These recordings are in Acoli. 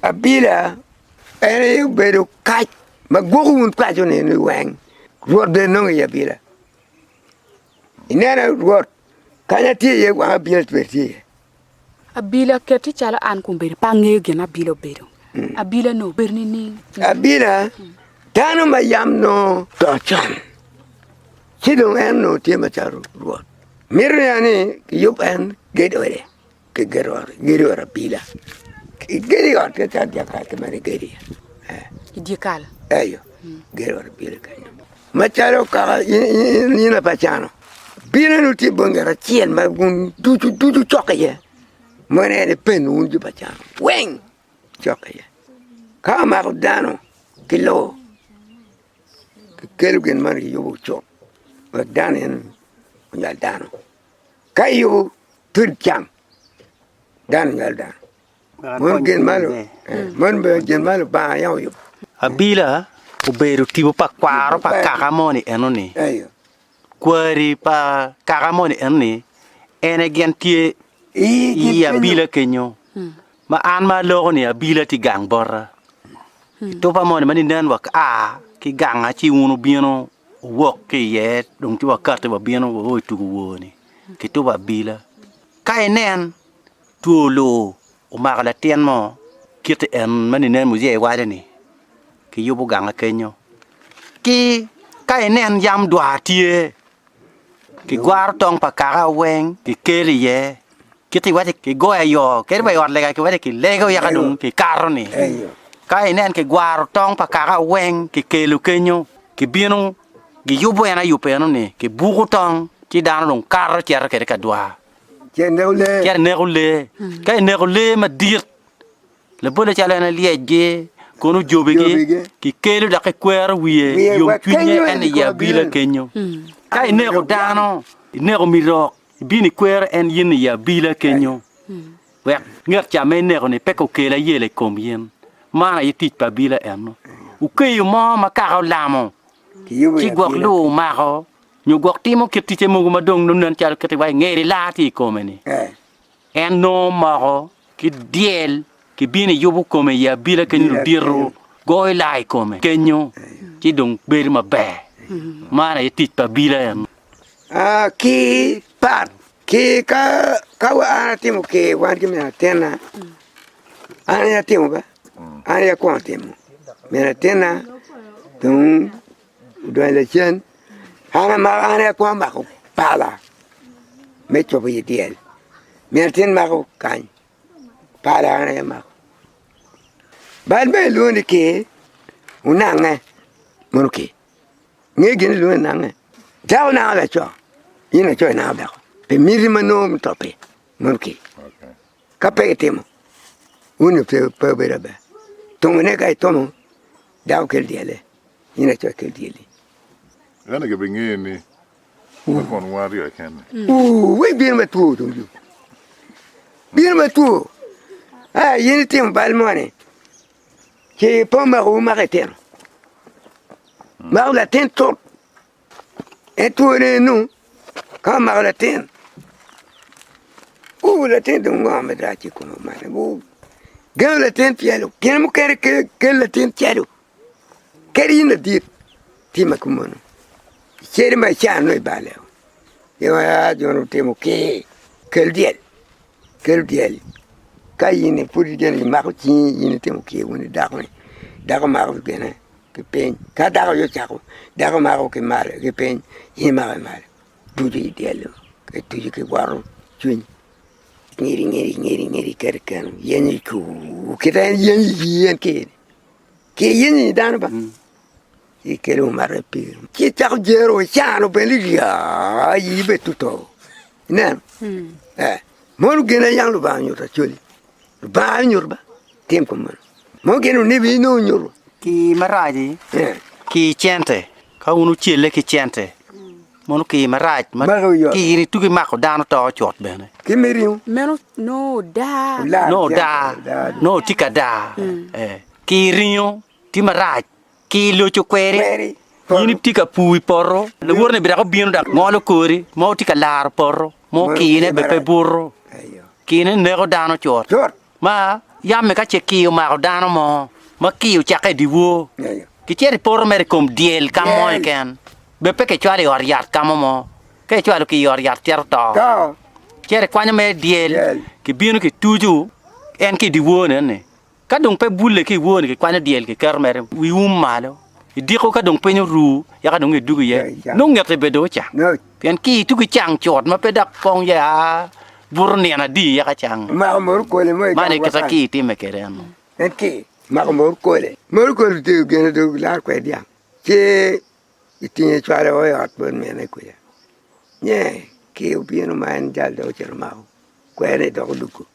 Abila en aye obedo kac ma gwoko wun paco ni weng rwot bene nongo i abila ineno rwot kanya tye iye wang abila bene tye iye. Abila keti calo an kun bedo pe angeyo gin ma abila obedo, abila ni obedo nining? Abila dano ma yam nongo oto con ci dong en onongo tye macalo rwot mito nen ni kiyub en gedo ode. ki gedo ot abila ki gedo ot keken dyekal kema ni gedo iye eh i dyekal eyo gedo ot abila keken macalo kaka in apa cano bino ni wutye bongi yat acel ma wun ducu ducu wucoko iye meno en ipen wun jo pa cano weng wucok iye ka omako dano ki lobo kikelo gin meno kiyubo cuk wek dano en onyal dano. Ka iyubo tod cam, dano nyal dano. Mon gin malo, eh, mon bene gin malo banga yam oyubo. Abila obedo tipo pa kwaro pa kaka moni enoni. Eyo. Kwari pa kaka moni enoni en e gin tye I i kit kenyo. abila kenyo. Ma an ma aloko ni abila tye gang bota, etuba moni ma ninen waka ki ganga ci wun wubino wuwok ki iye dong ci wakati wabino wao i tugo wor-ni ki tuba abila. Ka inen, two oloo omako latin mo kit en ma ninen muyee waco-ni, kiyubo ganga kenyo. Ki ka inen yam dwar tye, kigwaro tong pa kaka weng kikelo iye, Kit iwace ki goyo ayo kadi wa i ot lega kiwace ki lego yaka dong ki kato ni ka inen ki gwaro tong pa kaka weng ki kelo kenyo ki bino ki yubo en ayub eno ni ki buko tong ci dano dong kato cito kede ka dwa cito ineko lee ka ineko lee madit labole calo en lyec gi kono ojobi gi ki kelo dok ki kwero wiye yom cwiny en aye abila kenyo ka ineko dano ineko miti rok. Ibino ikwero en yen i abila kenyo, wek ngat ca ma ineko-ni pe kokel ayela i kom yen. Man aye tic pa abila eno. Wukeyo mo ma kaka olamo, ci gwok lur omako, nyo gwok timo kit ticce mogo ma dong nongen calo kit iwaco ngeri lar tye i kome-ni. En nongo omoko ki dyel kibino yubo kome i abila kenyo ludito goyo laa i kome kenyo ci dong bedo maber man aye tic pa abila eno. Aa ki pat ki ka ka wa an atimo ker wan ki min atinna an aye atimo ba an aye akwongo timo min atinna dong odonyo lacen, an amako an aye akwongo mako pala me cobo i dyel, min atin mako kany, pala an aye amako. Bal bene kilwongo ni kir, onange mono kir, inge gin ma kilwongo ni nange? Dako nango laco, in laco inango dako, pi miti ma nongo mutop-pi, mono kir. Ka pe itimo, wun-ni pe wubedo aber. Tungune ka itomo, dako kel dyelle, in aco ikel dyelli. Ento gibingeyo ni ma konwa aryo keken-ni. Ooh-wee, bino ma two dong yo. Bino ma two. Aa, in itimo bal moni, ci pe omako wu mako itino. Mako latin tut. En twone enu ka omako latin, wu latin dong ngo ma rac ki i kome meno wu gengo latin calo gin mukene kelo latin calo kadi in ladit tye ma kumeno cere ma icano ni ibale oo gin ma aa joni otimo ki kel dyel kel dyel ka in pud ijalo imako cingi in itimo kyer wun idako ni dako mako gine. ki piny ka dako aye ocako dako mako ki malo ki piny in imako ki malo tucu ki dyelo ki tucu ki woto cwiny inyiri inyiri inyiri inyiri iketo i keno yenyo cuu kita en yenyo i yii en kir kir yenyo i yi dano ba ci ikelo mato i pii ci icako jero icano bene iyaa yii bene tutoo Ineno? Ee. Mono gin aye yam Lubanga onyuto Acholi. Lubanga aye onyuto ba, tim kong meno. Mono gin onibi aye nongo onyuto. Kii marac-ci, Ee. kii cente, ka wun wucelle ki cente, mono kii marac ma Magi oyoto. kii ni tugi mako dano to cut bene. Ki me ringo, Meno nongo odaa. olar Nongo cente, daa, olar. nongo tye ka daa. Ee. Kii ringo tye marac. ki i loc okweri, in itye ka pur i poto, lawotone bidak obino dok ngolo kori ma wutye ka laro poto, ma okine bene pe buto, kine neko dano cut, ma yam-mi ka ce kii omako dano mo, ma kii ocakke i dyewor, kicito i poto mere i kom dyel ka mo keken, bene pe kicwalo i ot yat ka mo mo, ka icwalo ki i ot yat cito to, icito ikwanyo mere dyel, kibino kituco en ki i dyeworne-ni. Ka dong pe bulle ki i woni, kikwanyo dyel kiketo mere wi um malo. I diko ka dong piny oru, yaka dong edugo iye, nongo ngete bene dong ocang, pien ki i tugi cang cut ma pe dok pong ya buto nino adi yaka cang. Man aye kit ma ki itimme kwede eno. En ki mako mor kole. Mor kole otego gin adwogi dok laro kwede dyang, ci itinge cwalo i ot bot mine kuca. Nye ki obino ma en jal dok ocito omako kweri dok odwogo.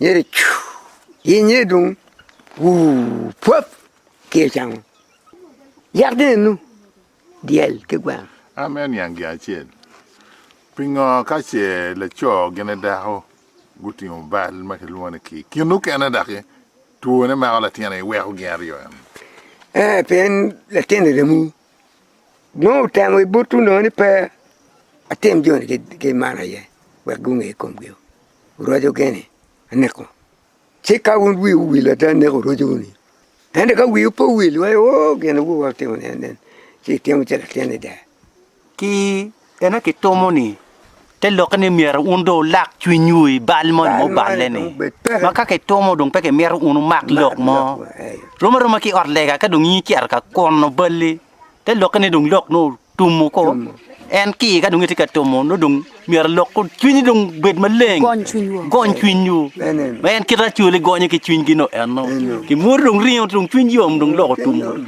nyedo cuu gi nyedo dong wuu pwap ki i cam yat gin enu dyel ki gweno. Am en niang gin acel, pingo ka ce laco gine dako gutingo bal ma kilwongo ni kii, kin mukene doki two ne mako latin aye iweko gin aryo enu? Ee pien latin remo nongo otemo i butu nongo ni pe atim joni ki man aye wek gunge komgi o. Rwaco gene aneko. Ci ka wun wiwu owil ada aneko rwaconu-ni. Ento ka wiwu pe owil iwaco ni, 'Oo, gin awobi man otimo nen nen, ci itimo calo latin ada. Ki ena kitomo ni te lokke ni myero wun dong wulak cwinywu i bal moni ma oballe-ni. Ma ka kitomo dong pe kimito wun wumak lok mo. Rom aroma ki i ot lega ka dong in icito ka kwono balli. te lokke ni dong lok nongo otum oko, en ki iye ka dong itye ka tumo nongo dong myero alok ko cwinyi dong bed maleng, Gony cwinywa. gony cwinywu. Amen. Ma en kite acwali gonyo ki cwinygi no enno. Kimwodo dong ringo dong cwiny yom dong lok otum oko.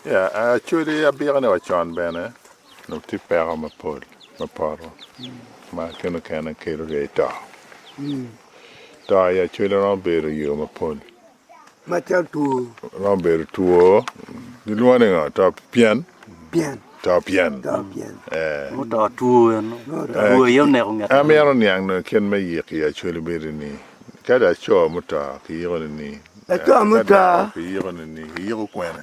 Ya, actually abika ni wa con bene onongo tye peko mapol me poto ma kene okene kelo ryei to. To aye actually romo bedo yo mapol. Romo bedo two, gilwongo ni ngo, to pyen, to pyen, ee, en mito niang nongo kit me yiko i Acholi bedo ni ka laco muto kiyiko ni ni, ka dako kiyiko ni ni, kiyiko kwene?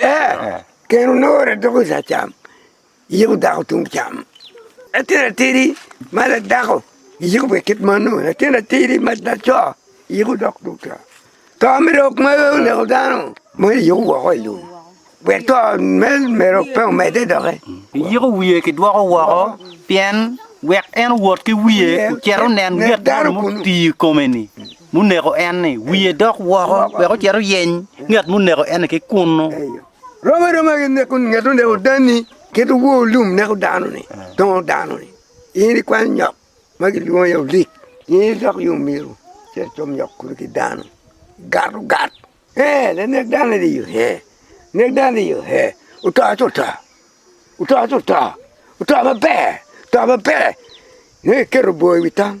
Ee, keni onore doko i saa cam, iyiko dako tung cam. Latin atidi ma ladako iyiko pi kit mano, latin atidi ma laco iyiko dok tung cam. To me lok ma oneko dano mono iyiko woko i lum, pien to me mero pe omedde doki. Iyiko wiye kidwoko woko, pien wek en owot ki wiye ocit onen yet moni mutii i kome-ni. muneko en-ni wiye dok woko wek ocit oyeny ngat muneko en-ni ki kunnu. Rom aroma ki neko ngat oneko dan-ni kit wor lum neko dano-ni, dongo dano-ni. In ikwanyo nyok ma kilwongo ni olik, in idok yo myero icit icom nyok kulu ki dano, igat ogat. Ee, lanek dano-ni dong iyo, ee, nek dano-ni iyo, ee, oto ci oto, oto ci oto, oto maber, oto maber, inongo iketo bor i wi tam.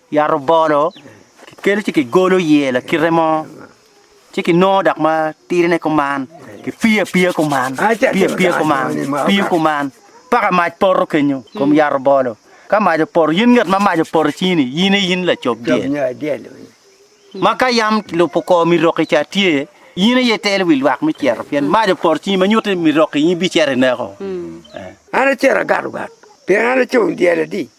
Yat obolo kikelo ci kigolo iye lakite mo, ci kinongo dok ma tirine kuman, kipiyo apiya kuman, kipiyo apiya kuman, kipiyo kuman, paka mac poto kenyo i kom yat obolo. Ka mac opoto, yin ngat ma mac opoto icingini, yin aye in lacob dyel. Ma ka yam kilubo kor miroki ca tye, yin aye itelo wi lwak me cito, pien mac opoto icingi ma nyuto ni miroki in ibicito ineko. An acito agato gat, pien an acung dyel adi?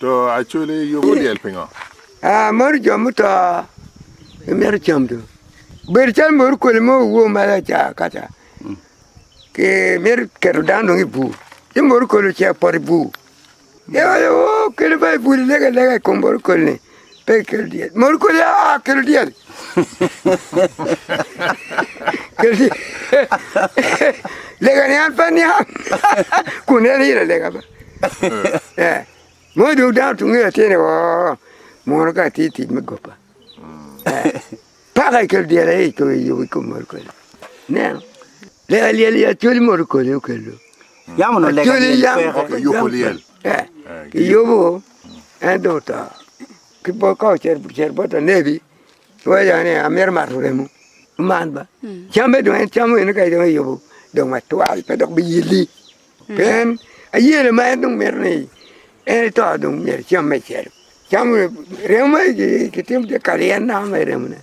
To Acholi yubo dyel pingo? Aa mono jo muto imito cam dong bedo calo mono koli mo owuo malo aca akaca ki mito keto dano dong i bur ci mono koli ocek poto i bur, eo aye oo kele ba i bur ilegalega i kom mono koli-ni Pe ikel dyel, mot kodi aa kel dyel kel dyel lega ni an pe aniang kun en ilo lega ba mono dong dano tunge latyene oo mono ka atye i tic me goba paka ikel dyel aye icung i kom mot kodi ineno. Lega lyel i Acholi modo koni okelo. Yam onongo lega Acholi lyel yam peke. koko Kiyubo yam lyel. pe. Eh, Eh, Kiyubo en dong oto. Ki bo ka ocer cer bot anebi waya ni amito mato remo. Man ba. Camme dong en camo ene kadi dong eyubo dong matwal pe dok biyilli. Pe en ayele ma en dong mito ni en ito dong myero ecam me celo. Camo remo ma kitimo tye kalyet na me remone.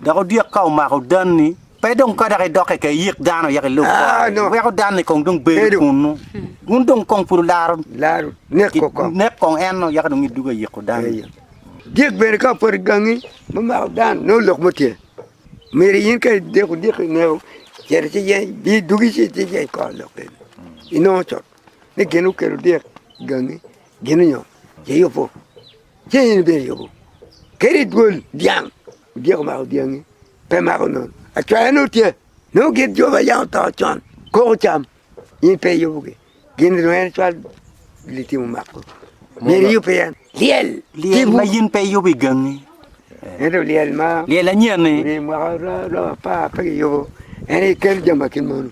Dok odyek ka omako danni, pe dong ka dok idok keken iyik dano wek ilub kwari, iweko danni kong dong bedo kunnu, wun dong kong pud wularo nek kong en-nu, yaka dong idwogo iyiko danni. Dyek bene ka opoto i gangi me mako dan, nongo lok mo tye, myero in ka ideko odyek-ki i ngeu, cit ci yeny, bi dwogi ci iyeny kor lok kene, inongo cut ni gin okelo odyek i gangi. Gin onyo ce yubu ceng in ibino yubu kadi dwol dyang odyeko mako dyangi pe mako nono acwaya nongo tye nongo gin jo ma yam oto con koko cam in pe iyubu gi gin dong en cwal litimo mako myero iyub pi en lyel lyel ma in pe iyubu igangi ento lyel ma lyel anyen ni ri mwaka romo apar pe kiyubu en ikel jami ma kin mono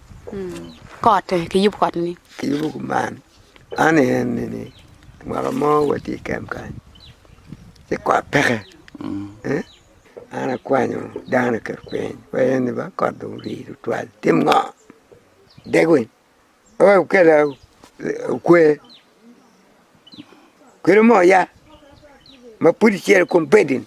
kote kiyubu kot ni kiyubu kuman Man aye nini mwaka mo watye i kemp kany ci kot peke an akwanyo dano oketo piny wa en ni ba kot dong orii tutwal itim ngo dek winy pe wek okela okwe kelo moo ya ma pud icel kom bedi ni.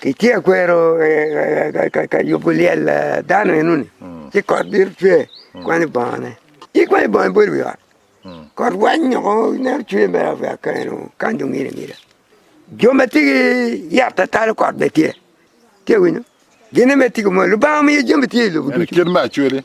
Ki ce akwero ka yubo lyel dano enoni, ci kot bino cwe kwanyo bongone. In ikwanyo bongo ibol i wi ot, kot wanyo ko ineno cwer mere apuya keno kany dong ngilo angila. Jo ma tye ki yat ma talo kot bene tye, itye ka winyo? Gine mere tye ki mwol. Lubanga omiyo jami tye i lobo ducu. Kit me acwele.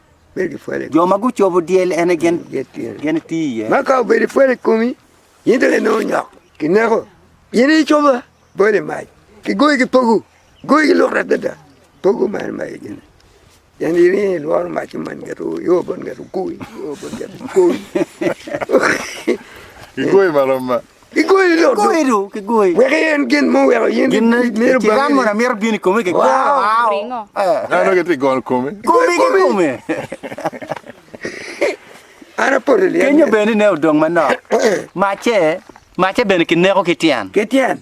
Jo ma gucobo dyel en aye gin iti iye. Ma ka obedo ipwelo i komi, in dong inongo nyok ki neko. In aye icoba, bolo i mac, kigoyi ki pogo, goyi ki lworo adada. Pogo man maye gini, pien in aye ilworo mac ci mony ngeto io bot ngeto ogoyi, io bot ngeto ogoyi. Kigoyi lodo wek iyen gin muweko in imito bangine. Kiram mono amito bino i kome ki kwo. An onongo itye gono komi. Komi ki kome. An apoto lyel. Kenyo bene ne odong manok. Macce, macce bene kineko ki tyen. Ki tyen.